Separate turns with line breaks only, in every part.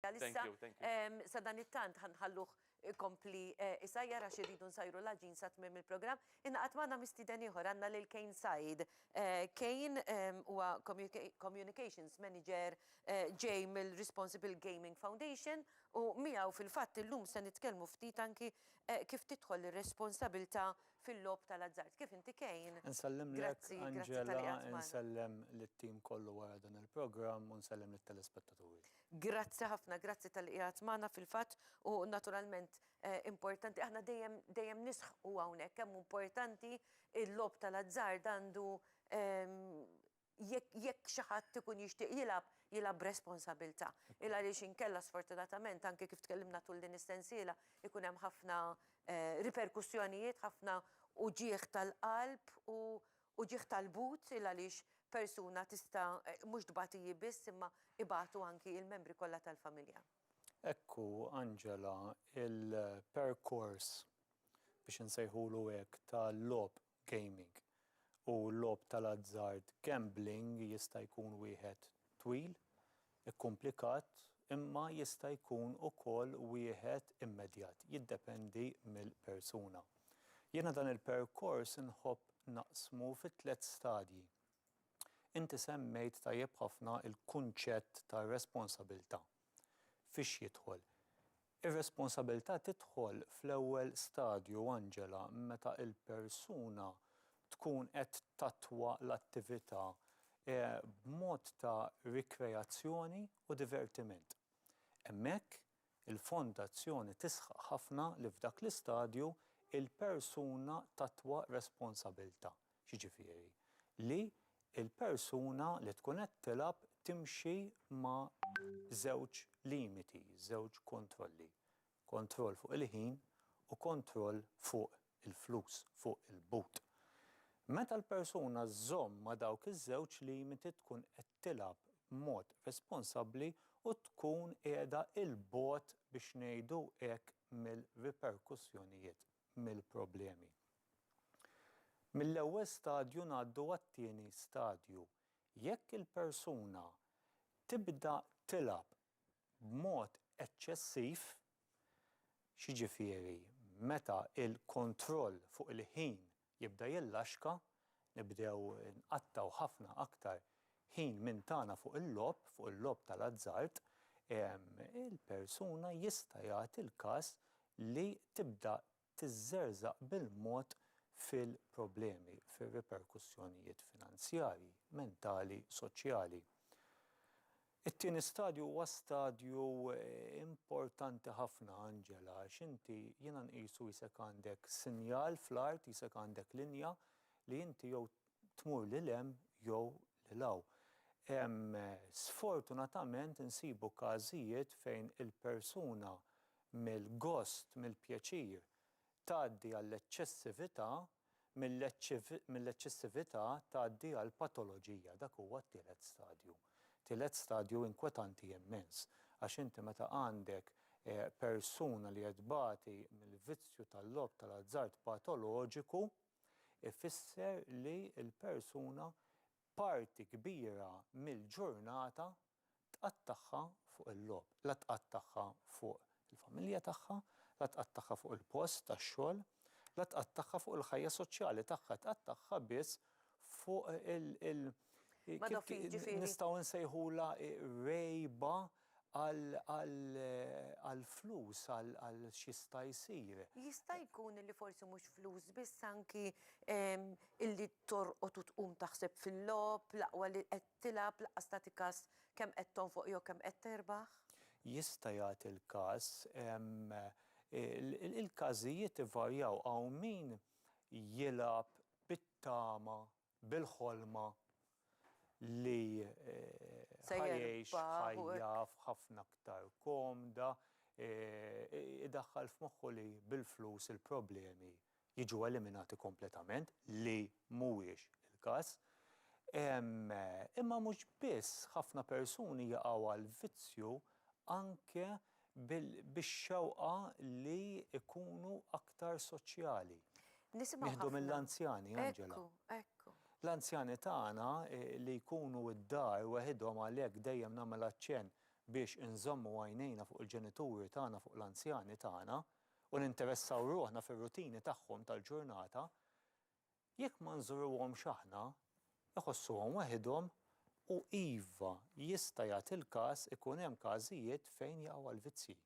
Għalissa, sadanittant ħa nħalluh ikompli jsajjar għax irridu nsajru l-għaġin sa tmiem il-programm. Ingħaqad magħna mistieden ieħor, għandna lil Kane Said. Kane huwa Communications Manager ġej mill-Responsible Gaming Foundation u miegħu fil-fatt illum se nitkellmu ftit anki kif tidħol ir-responsabilità fil-logħob tal-azzard. Kif inti Kane? Insellimlek
Angela, insellem lit-tim kollu wara dan il-programm u nsellem lit-telespettaturi. Grazzi ħafna,
grazzi talli qiegħed magħna fil-fatt u naturalment importanti aħna dejjem dejjem nisħqu hawnhekk kemm hu importanti l-logħob tal-azzard għandu jekk jekk xi ħadd ikun jixtieq jilgħab, jilgħab b'responsabilità. Il għaliex inkella sfortunatament anke kif tkellimna tul din is-sensiela jkun hemm ħafna riperkussjonijiet, ħafna uġigħ tal-qalb u Uġigħ tal-but il għaliex persuna tista' mhux tbati hi biss imma ibatu anki il-membri kollha tal-familja. Hekk hu
Angela il-perkors biex insejħulu hekk tal-logħob gaming u l-logħob tal-azzard gambling jista' jkun wieħed twil Ikkumplikat imma jista' jkun ukoll wieħed immedjat, jiddependi mill-persuna. Jiena dan il-perkors nħobb naqsmu fi tliet stadji. Inti semmejt tajjeb ħafna l-kunċett ta' responsabilità. Fiex jidħol? Ir-responsabilità tidħol fl-ewwel stadju, Angela, meta l-persuna tkun qed tattwa l-attività b'mod ta' rikreazzjoni u divertiment. Hemmhekk, il-Fondazzjoni tisħaq ħafna li f'dak l-istadju, il-persuna tattwa responsabilità. Jiġifieri, li l-persuna li tkun qed tilgħab timxi ma' żewġ limiti, żewġ kontrolli. Kontroll fuq il-ħin u kontroll fuq il-flus, fuq il-but. Meta l-persuna żżomm ma' dawk iż-żewġ limiti tkun qed tilgħab b'mod responsabbli u tkun qiegħda 'il bogħod biex ngħidu hekk mill-riperkussjonijiet, mill-problemi. Mill-ewwel stadju ngħaddu għat-tieni stadju. Jekk il-persuna tibda tilgħab b'mod eċċessiv, x'jiġifieri meta l-kontroll fuq il-ħin jibda jillaxka, nibdew nqattgħu ħafna aktar ħin minn tagħna fuq il-logħob, fuq il-logħob tal-azzard, il-persuna jista' jagħti l-każ li tibda tiżżerżaq bil-mod fil-problemi, fir-riperkussjonijiet finanzjarji, mentali, soċjali. It-tieni stadju huwa stadju importanti ħafna, Angela, għax inti jiena nqisu jisek għandek sinjal fl-art, jisek għandek linja li inti jew tmur lil hemm jew lil hawn. Sfortunatament insibu każijiet fejn il-persuna mill-gost, mill-pjaċir tgħaddi għall-eċċessività, mill-eċċessività tgħaddi għall-patoloġija. Dak huwa t-tielet stadju. Tielet stadju inkwetanti immens għax inti meta għandek persuna li qed tbati mill-vizzju tal-logħob tal-azzard patoloġiku, ifisser li l-persuna parti kbira mill-ġurnata tqattagħha fuq il-logħob. La tqattagħha fuq il-familja tagħha, la tqattagħha fuq il-post tax-xogħol, la tqattagħha fuq il-ħajja soċjali tagħha, tqattagħha biss fuq il-, nistgħu nsejħulha rgħiba għal flus, għal x'jista' jsir. Jista' jkun
li forsi mhux flus biss anki illi torqod u tqum taħseb fil-logħob, l-aqwa li qed tilgħab lanqas tagħti kas kemm qed tonfoq jew kemm qed terbaħ? Jista' jagħti
l-każ. Il-każijiet ivarjaw, hawn min jilgħab bit-tama bil-ħolma li ħa jgħix ħajja ħafna aktar komda, idaħħal f'moħħu li bil-flus il-problemi jiġu eliminati kompletament, li mhuwiex il-każ. Imma mhux biss, ħafna persuni jaqgħu għall-vizzju anke bix-xewqa li jkunu aktar soċjali. Nisimgħu ħafna. Nieħdu mill-anzjani, Angela. Ekku, ekku.
L-anzjani
tagħna li jkunu d-dar weħidhom għalhekk dejjem nagħmel aċċenn biex inżommu għajnejna fuq il-ġenituri tagħna fuq l-anzjani tagħna u ninteressaw ruħna fir-rutini tagħhom tal-ġurnata, Jekk ma nżuruhomx aħna, iħossuhom weħidhom u iva, jista' jagħti l-każ ikun hemm każijiet fejn jaqgħu għall-vizzji.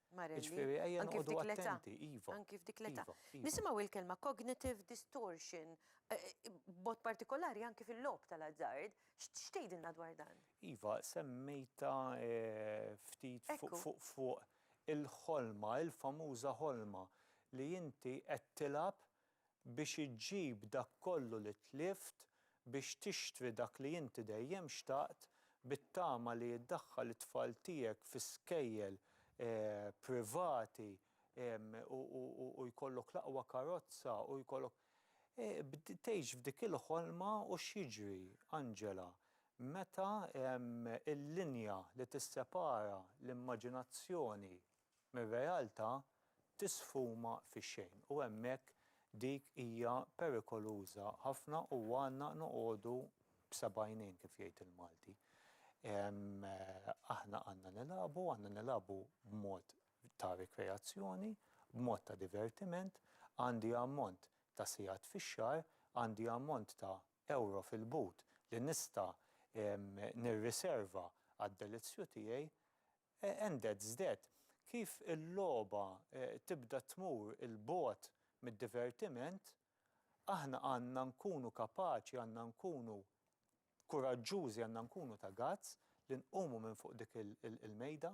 Jiġifieri ejja noqogħdu attenti, iva. Anki f'dik l-età.
Nisimgħu l-kelma
cognitive
distortion, b'mod partikolari anki fil-logħob tal-azzard. X'tgħidilna dwar dan? Iva, semmejtha
ftit fuq il-ħolma, il-famuża ħolma li inti qed tilgħab biex iġġib dak kollu li tlift, biex tixtri dak li inti dejjem xtaqt, bit-tama li iddaħħal it-tfal tiegħek fi skejjel privati u jkollok l-aqwa karozza u jkollok. Tgħix f'dik il-ħolma u x'jiġri, Angela, meta l-linja li tissepara l-immaġinazzjoni mir-realtà tisfuma fix-xejn u hemmhekk dik hija perikoluża ħafna u għandna noqogħdu b'seb'għajnejn kif jgħid il-Malti. Aħna għandna nilagħbu, għandna nilagħbu b'mod ta' rikreazzjoni, b'mod ta' divertiment, għandi ammont ta' sigħat fix-xahar, għandi ammont ta' ewro fil-but li nista' nirriserva għad-delizzju tiegħi, Ended żded, Kif il-logħba tibda tmur 'il bogħod mid-divertiment, aħna għandna nkunu kapaċi, għandna nkunu kuraġġużi, għandna nkunu ta' guts li nqumu minn fuq dik il-mejda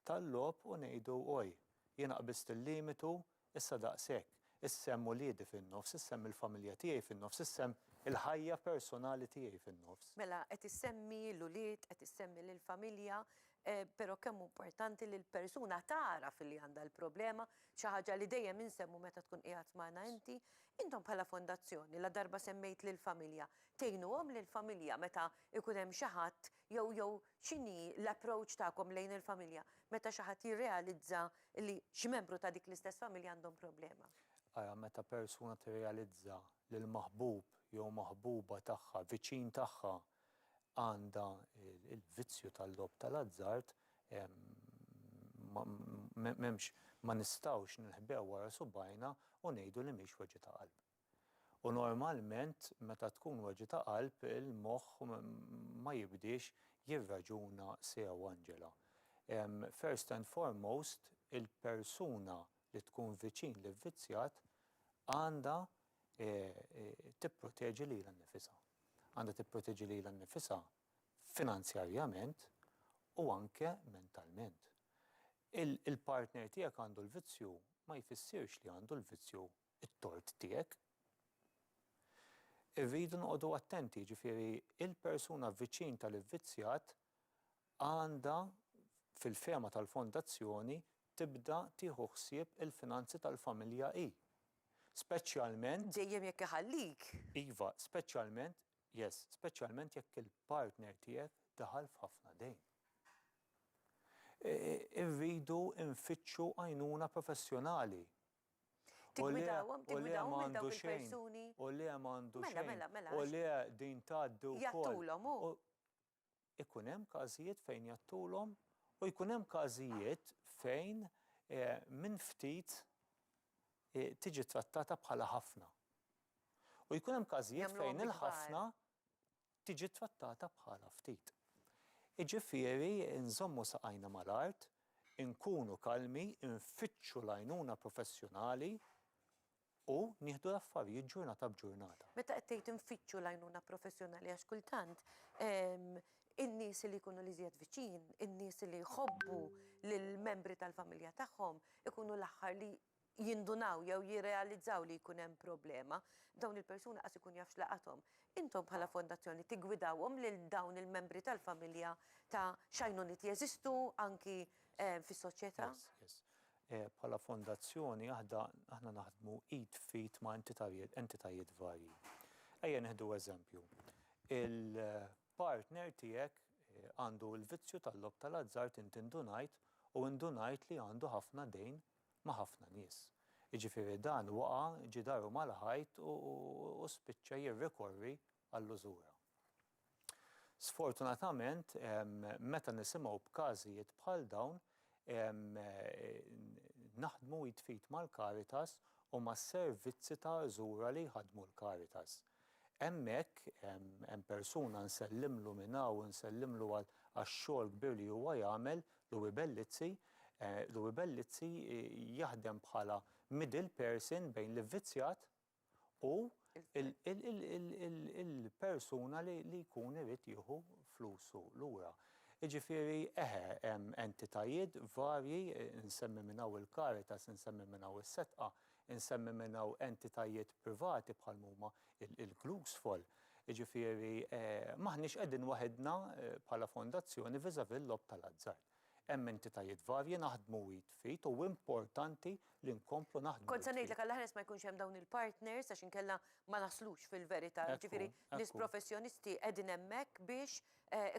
tal-logħob u ngħidu, Oj, jiena qbiżt il-limitu Issa daqshekk, issa hemm uliedi fin-nofs, issa hemm il-familja tiegħi fin-nofs, issa hemm il-ħajja personali tiegħi fin-nofs. Mela, qed issemmi
l-ulied, qed issemmi lill-familja, però kemm hu importanti li l-persuna tagħraf li għandha l-problema, xi ħaġa li dejjem insemmu meta tkun qiegħed magħna inti. Intom bħala Fondazzjoni, ladarba semmejt lill-familja, tgħinuhom lill-familja meta jkun hemm xi ħadd jew jew X'inhi l-approach tagħkom lejn il-familja meta xi ħadd jirrealizza li xi membru ta' dik l-istess familja għandhom problema? Ara, meta
persuna tirrealizza li l-maħbub jew maħbuba tagħha, viċin tagħha, għandha l-vizzju tal-logħob tal-azzard, m'hemmx, ma nistgħux ninħbew wara subgħajna u ngħidu li mhix weġgħa ta' qalb. U normalment meta tkun weġgħa ta' qalb il-moħħ ma jibdiex jirraġuna sew Angela. First and foremost il-persuna li tkun viċin l-ivvizzjat għandha tipproteġi lilha nnifisha. Għandha tipproteġi lilha nnifisha finanzjarjament u anke mentalment. Il-partner tiegħek għandu l-vizzju ma jfissirx li għandu l-vizzju it-tort tiegħek. Irridu noqogħdu attenti, jiġifieri l-persuna viċin tal-ivvizzjat għandha, fil-fehma tal-Fondazzjoni, tibda tieħu ħsieb il-finanzi tal-familja hi. Speċjalment. Dejjem jekk
iħallik. Iva,
speċjalment, yes, speċjalment jekk il-partner tiegħek daħal f'ħafna dejn. Irridu nfittxu għajnuna professjonali
Tiggwidawhom, tiggwidawhom lil dawk il-persuni. U le m'għandu
xejn. Mela, mela, mela. U le
din
tgħaddi wkoll. Jgħattulhom hu.
Ikun
hemm każijiet fejn jgħattulhom u jkun hemm każijiet fejn minn ftit tiġi trattata bħala ħafna. U jkun hemm każijiet fejn il-ħafna tiġi ttrattata bħala ftit. Jiġifieri nżommu saqajna mal-art, inkunu kalmi, infittxu l-għajnuna professjonali u nieħdu l-affarijiet ġurnata b'ġurnata. Meta qed tgħid infittxu
l-għajnuna professjonali għax kultant in-nies li jkunu l-iżjed viċin, in-nies li jħobbu lill-membri tal-familja tagħhom ikunu l-aħħar li jindunaw jew jirrealizzaw li jkun hemm problema, dawn il-persuni qas ikun jaf x'laqathom. Intom bħala fondazzjoni tiggwidawhom lil dawn il-membri tal-familja ta' x'għajnuniet jeżistu anki fis-soċjetà? Yes, yes.
Bħala fondazzjoni aħda aħna naħdmu id f'id ma' entitajiet entitajiet varji. Ejja nieħdu eżempju. Il-partner tiegħek għandu l-vizzju tal-logħob tal-azzard inti ndunajt u ndunajt li għandu ħafna dejn ma' ħafna nies. Jiġifieri dan waqa' ġidaru mal-ħajt u spiċċa jirrikorri għall-użura. Sfortunatament, meta nisimgħu b'każijiet bħal dawn, naħdmu id f'id mal-Caritas u mas-servizzi ta' użura li jħaddmu l-Caritas. Hemmhekk hemm persuna nsellimlu minn hawn u nsellimlu għax-xogħol kbir li huwa jagħmel, Louie Bellizzi. Louie Bellizzi jaħdem bħala middle person bejn l-ivvizzjat u l-persuna li jkun irid jieħu flusu lura. Jiġifieri, eħe, hemm entitajiet varji, insemmi minn hawn il-Caritas, insemmi minn hawn is-Sedqa, Insemmi minn hawn entitajiet privati bħal m'huma il-Glucksfall. Jiġifieri m'aħniex qegħdin waħidna bħala fondazzjoni vis-à-vis l-logħob tal-azzard. Hemm entitajiet varji naħdmu id f'id u importanti li nkomplu naħdmu id f'id. Kont se ngħidlek għall-aħres ma
jkunx hemm dawn il-partners għax inkella ma naslux fil-verità. Jiġifieri nies professjonisti qegħdin hemmhekk biex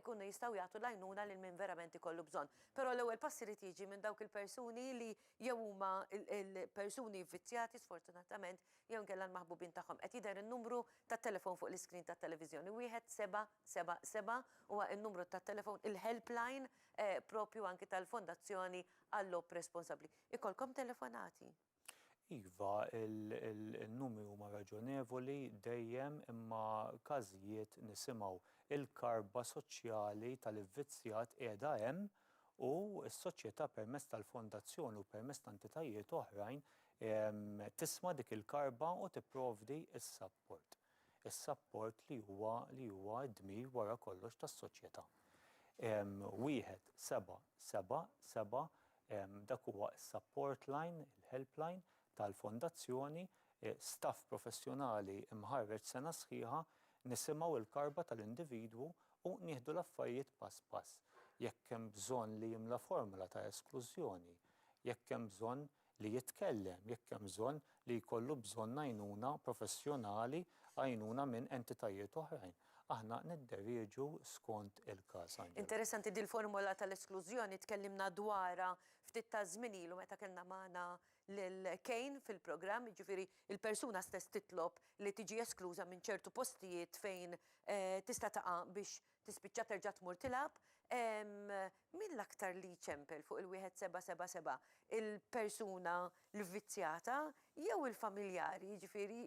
ikunu jistgħu jagħtu l-għajnuna lil min verament ikollu bżonn. Però l-ewwel pass irid jiġi minn dawk il-persuni li jew huma l-persuni vvizzjati sfortunatament jew inkella l-maħbubin tagħhom. Qed jidher in-numru tat-telefon fuq l-iskrin tat-televiżjoni, wieħed seba' seba' seba' huwa n-numru tat-telefon, il-helpline proprju anki tal-Fondazzjoni għal-Logħob Responsabbli. Ikollkom telefonati? Iva,
in-numri huma raġonevoli dejjem imma każijiet nisimgħu. Il-karba soċjali tal-ivvizzjat qiegħda hemm u s-Soċjetà permezz tal-Fondazzjoni u permezz ta' entitajiet oħrajn tisma' dik il-karba u tipprovdi s-sapport. Is-sapport li huwa li huwa d-dmir wara kollox tas-Soċjetà. Wieħed, seba', seba', seba' dak huwa s-sapport line, il-helpline, tal-Fondazzjoni, staff professjonali mħarreġ sena sħiħa, nisimgħu l-karba tal-individwu u nieħdu l-affarijiet pass pass. Jekk hemm bżonn li jimla formola ta' esklużjoni, jekk hemm bżonn li jitkellem, jekk hemm bżonn li jkollu bżonn għajnuna professjonali, għajnuna minn entitajiet oħrajn, aħna nidderieġu skont il-każ. Anġela. Interessanti
dil-formola tal-esklużjoni tkellimna dwarha ftit taż-żmien ilu meta kellna magħna lil Kane fil-programm, jiġifieri l-persuna stess titlob li tiġi eskluża minn ċertu postijiet fejn tista' taqa' biex tispiċċa terġa' tmur tilgħab. Min l-aktar li jċempel fuq il-wieħed seba' seba' seba', il-persuna l-vvizzjata jew il-familjari, jiġifieri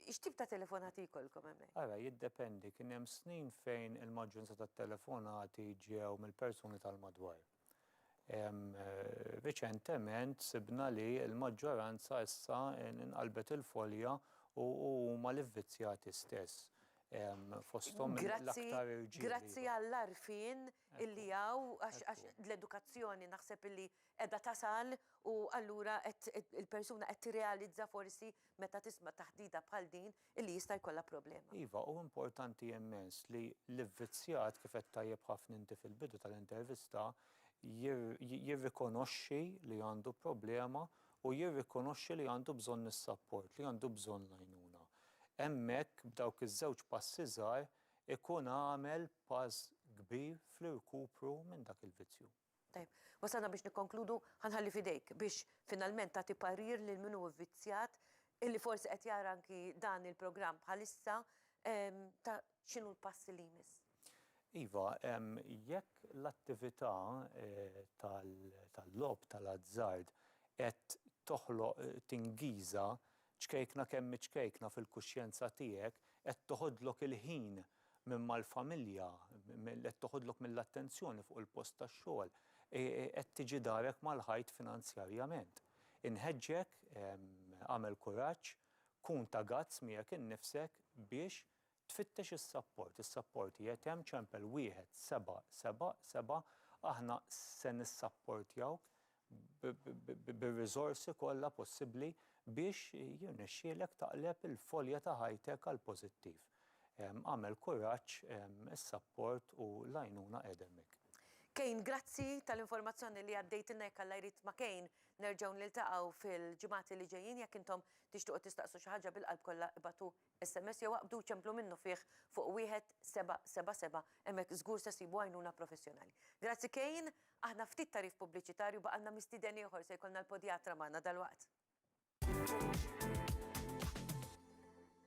x'tip ta' telefonati jkollkom hemmhekk? Ara, jiddependi.
Kien hemm snin fejn il-maġġoranza tat-telefonati ġew mill-persuni tal-madwar. Riċentement sibna li l-maġġoranza issa inqalbet il-folja u huma l-ivvizzjati stess fosthom l-aktar irġiel. Grazzi għall-għarfien
illi hawn għax l-edukazzjoni naħseb illi qiegħda tasal u allura qed il-persuna qed tirrealizza forsi meta tisma' taħdida bħal din illi jista' jkollha problema. Iva, hu importanti
immens li l-ivvizzjat, kif għedt tajjeb ħafna inti fil-bidu tal-intervista, jirrikonoxxi li għandu problema u jirrikonoxxi li għandu bżonn is-sapport, li għandu bżonn l-għajnuna. Hemmhekk, b'dawk iż-żewġ passi żgħar, ikun għamel pass kbir fl-irkupru minn dak il-vizzju. Tajjeb, wasalna
biex nikkonkludu, ħa nħalli f'idejk biex finalment tagħti parir lil min hu vvizzjat illi forsi qed jara anki dan il-programm bħalissa ta' x'inhu l-pass li jmiss. Iva,
jekk l-attività tal-logħob tal-azzard qed toħloq tingiża Ċkejkna kemm iċkejkna fil-kuxjenza tiegħek qed toħodlok il-ħin minn mal-familja, qed toħodlok mill-attenzjoni fuq il-post tax-xogħol, qed tiġi darek mal-ħajt finanzjarjament. Inħeġġek, agħmel kuraġġ, kun ta' guts miegħek innifsek biex Tfittex is-sapport, is-sapport qiegħed hemm, ċempel wieħed seba' seba' seba', aħna se nissapportjawk bir-riżorsi kollha possibbli biex jirnexxielek taqleb il-folja ta' ħajtek għall-pożittiv. Agħmel kuraġġ, is-sapport u l-għajnuna qiegħda hemmhekk. Kane, grazzi
tal-informazzjoni li għaddejtilna, jekk Alla jrid ma' Kane nerġgħu niltaqgħu fil-ġimgħat li ġejjin, jekk intom tixtiequ tistaqsu xi ħaġa bil-qalb kollha ibgħatu SMS jew aqbdu ċemplu minnufih fuq 1777 hemmhekk żgur se ssibu għajnuna professjonali. Grazzi Kane, aħna ftit tagħrif pubbliċitarju baqalna mistieden ieħor se jkollna l-podjatra magħna dalwaqt.